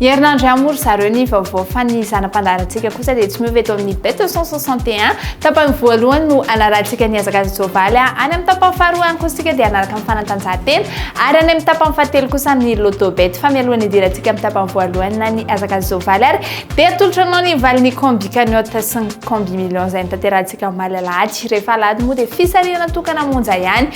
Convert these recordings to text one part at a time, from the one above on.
Ny herinandro ihany moa ry zareo ny vaovao fa ny zana-pandaharantsika kosa dia tsy miova eto amin'ny Bête 161. Tapany voalohany no hanarahantsika ny hazakazaka soavaly any amin'ny tapany faharoa ihany kosa isika dia hanaraka amin'ny fanatanjahantena ary any amin'ny tapany fahatelo kosa ny Lotto Bet fa mialohan'ny hidirantsika amin'ny tapany voalohany na ny hazakazaka soavaly ary dia atolotra anao ny valin'ny combi cagnotte sy ny combi millions izay nitanterahantsika omaly alahady rehefa alahady moa dia fisarihana tokana monja ihany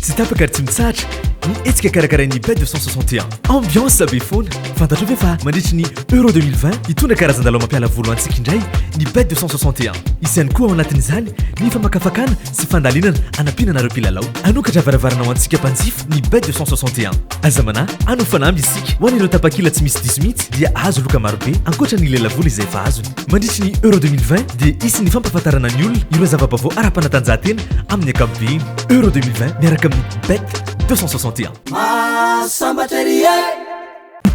Tsy tapaka ary tsy mitsahatra ny hetsika karakarain'ny Bête de 161. Ambiance be foana. Fantatrao ve fa mandritry ny Euro 2020, hitondra karazan-dalao mampiala voly ho antsika indray ny Bête de 161. Hisy ihany koa ao anatin'izany ny famakafakana sy fandalinana anampiana anareo mpilalao. Hanokatra varavarana ho antsika mpanjifa ny Bête de 161. Aza manahy, hanao fanamby isika. Ho an'ireo tapakila tsy misy diso mihitsy dia hahazo loka marobe ankoatra ny lelavola izay efa azony. Mandritry ny Euro 2020 dia hisy ny fampahafantarana ny olona ireo zava-baovao ara-panatanjahantena amin'ny ankapobeny. Euro 2020 miaraka amin'ny Bet 261. Mahasambatra ery e!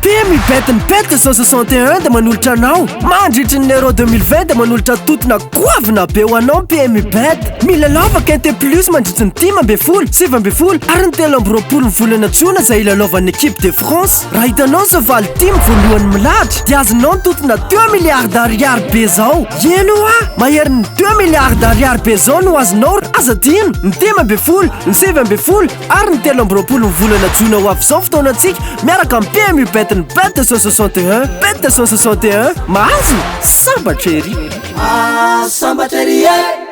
Temy Bet ny Bet 261 dia manolotra anao mandritry ny Euro 2020 dia manolotra totona goavana be ho anao ny PMU Bet. Milalao Vaquinte Plus mandritry ny dimy ambin'ny folo, sivy ambin'ny folo ary ny telo amby roapolo ny volana jona izay hilalaovan'ny équipe de France. Raha hitanao izao valo tim voalohany milahatra dia azonao ny totina deux milliards d'ariary be zao. Eny hoa! Maherin'ny deux milliards d'ariary be zao no azonao raha aza adino ny dimy ambin'ny folo, ny sivy ambin'ny folo ary ny telo amby roapolo ny volana jona ho avy izao fotoanantsika miaraka amin'ny PMU bet ny bet deux cent soixante et un. Bet deux cent soixante et un. Mahazo? Sambatra ery! Sambatra ery e!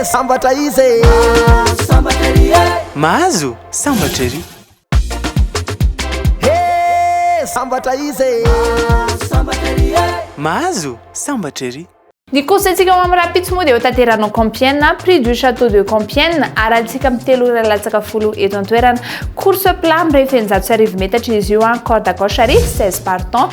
Hee sambatra izy e! Mahazo sambatra ery e! Mahazo sambatra ery! Hee sambatra izy e! Mahazo sambatra ery e! Mahazo sambatra ery! Ny course-ntsika ho amin'ny rahampitso moa dia hotanterahina ao Compiègne, Prix du Château de Compiègne, arahintsika amin'ny telo ora latsaka folo eto an-toerana. Course plat, mirefy eninjato sy arivo metatra izy io, corde à gauche ary seize partants.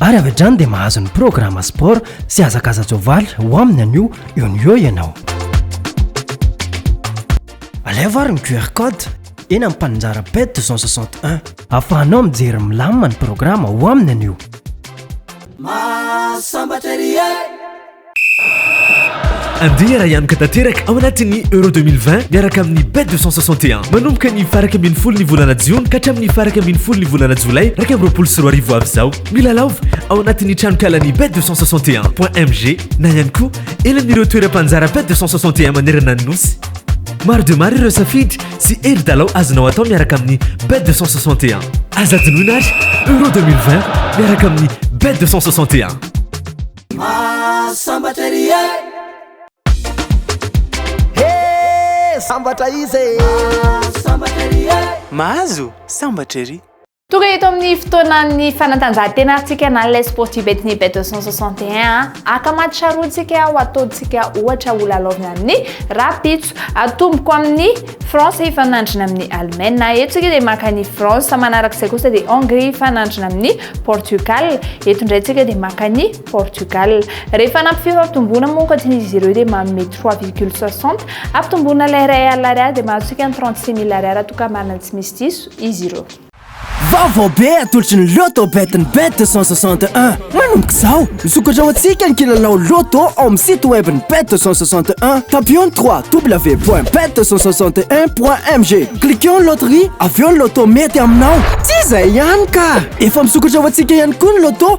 ary avy hatrany dia mahazo ny programa sport sy hazakaza-tsoavaly ho aminy anio eo ny eo ianao alevo ary ny qr code eny amin'ny mpaninjara pet 261 afahanao mijery milamina ny programa ho aminy anio Masamba Thierry Andeha raha hianoka tanteraka ao anatin'ny Euro 2020 miaraka amin'ny Bet 261. Manomboka ny faraka ambin'ny folo ny volana jiona ka hatramin'ny faraka ambin'ny folo ny volana jolay iraika amby roapolo sy roa arivo avy izao. Milalaova ao anatin'ny tranonkalan'ny Bet 261.mg na ihany koa eny amin'ireo toeram-panjara Bet 261 manerana ny nosy. Maro dia maro ireo safidy sy hery dalao azonao atao miaraka amin'ny Bet 261. Aza adinoina ary Euro 2020 miaraka amin'ny Bet 261. Mahasambatra ery e He sambatra izy e Mahasambatra ery e Mahazo sambatra ery Tonga eto amin'ny fotoanan'ny fanatanjahantena antsika na les sports du Betny Bet 261 aka maty charotsika ho ataontsika ohatra ho lalaovina amin'ny rahampitso atomboko amin'ny France hifanandrina amin'ny Allemagne na eto tsika dia maka ny France manaraka izay kosa dia Hongrie hifanandrina amin'ny Portugal eto indray tsika dia maka ny Portugal rehefa nampy fio fampitomboana moa ankoatra izy ireo dia manome 3,60 ampitomboana ilay iray alina ariary dia mahazo tsika ny 36 mille ariary toa ka marina tsy misy diso izy ireo Vaovao be atolotry ny Lotto Bet ny Bet 261. Manomboka izao, misokatra ho antsika ny kilalao Lotto ao amin'ny site web ny Bet 261. Tapio ny www.bet261.mg. Cliqueo ny loterie, avy eo ny Lotto mety aminao. Tsy izay ihany ka! Efa misokatra ho antsika ihany koa ny Lotto.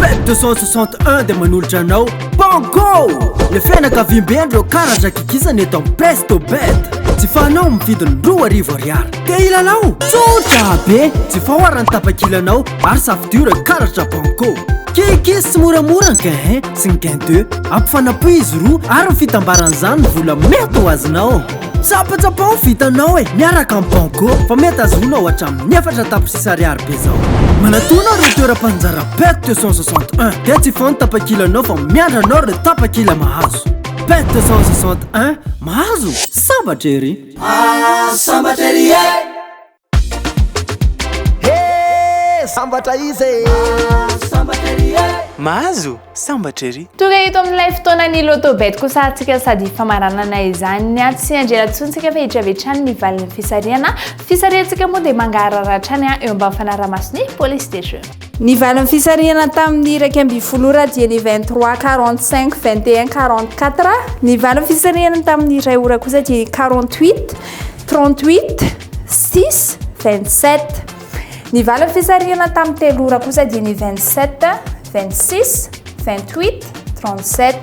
Pet 261 dia manolotra anao Banco! Le fianakaviambe an'ireo karatra kikisana eto amin'ny Presto Bet. Jifaonao amin'ny vidiny roa arivo ariary. Te hilalao? Tsotra be! Jifao ara ny tapakilanao ary safidio ireo karatra Banco. Kikis sy moramora ny gain 1 sy ny gain 2. Ampifanapoy izy roa ary ny fitambaran'izany ny vola mety ho azonao. Tsapatsapa ho vitanao e, miaraka amin'ny Banco fa mety azonao hatramin'ny efatra tapitrisa ariary be zao. Manatona ireo toeram-panjara PET 261 dia tsy foana tapakilanao fa miandry anao ireo tapakila mahazo. PET 261, mahazo? Sambatra ery! Sambatra ery e! Hee sambatra izy e! Mahazo sambatra ery e! Mahazo sambatra ery! Tonga eto amin'ilay fotoanan'ny Lotto Bet kosa atsika sady famaranana izany a! Tsy handrera intsony tsika fa hitrevy hatrany ny valin'ny fisarihana. Fisarihantsika moa dia mangarahara hatrany eo ambany fanaraha-mason'ny police des jeux. Ny valin'ny fisarihana tamin'ny iraika ambin'ny folo ora dieny vingt trois quarante cinq vingt et un quarante quatre, ny valin'ny fisarihana tamin'ny iray ora kosa dieny quarante huit trente huit six vingt sept, ny valin'ny fisarihana tamin'ny telo ora kosa dieny vingt sept vingt six vingt huit trente sept.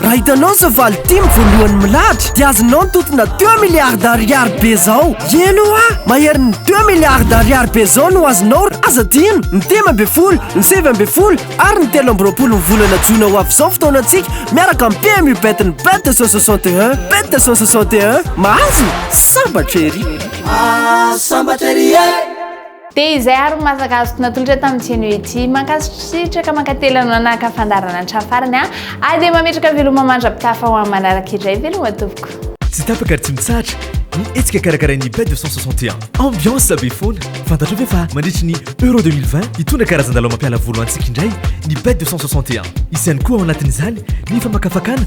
Raha hitanao izao valo tim voalohany milahatra dia azonao ny totina deux milliards d'ariary be zao. Eny hoa! Maherin'ny deux milliards d'ariary be zao no azonao raha aza adino ny dimy ambin'ny folo, ny sivy ambin'ny folo ary ny telo amby roapolo ny volana jona ho avy izao fotoanantsika miaraka amin'ny PMU bet ny bet deux cent soixante et un. Bet deux cent soixante et un. Mahazo? Sambatra ery! Sambatra ery e! Dia izay ary no maha zaka azoko natolotra tamin'ny Tseno ity. Mankasitraka mankatelina anao naka fandaharana hatramin'ny farany an! Ary dia mametraka veloma mandra-pitafa ho amin'ny manaraka indray veloma tompoko. Tsy tapaka ary tsy mitsahatra ny hetsika karakarain'ny Bay 261. Ambiance be foana! Fantatrao ve fa mandritry ny Euro 2020 hitondra karazan-dalao mampiala voly ho antsika indray ny Bay 261. Hisy ihany koa ao anatin'izany ny famakafakana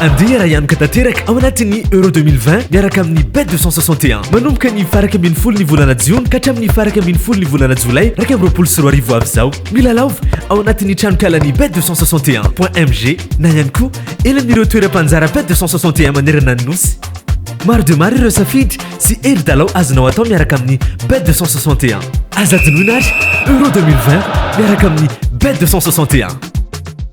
Andeha raha hianoka tanteraka ao anatin'ny Euro 2020 miaraka amin'ny Bet 261. Manomboka ny faraka ambin'ny folo ny volana jiona ka hatramin'ny faraka ambin'ny folo ny volana jolay iraika amby roapolo sy roa arivo avy izao. Milalaova ao anatin'ny tranonkalan'ny Bet 261.mg na ihany koa eny amin'ireo toeram-panjara Bet 261 manerana ny nosy. Maro dia maro ireo safidy sy hery dalao azonao atao miaraka amin'ny Bet 261. Aza adinoina ary Euro 2020 miaraka amin'ny Bet 261.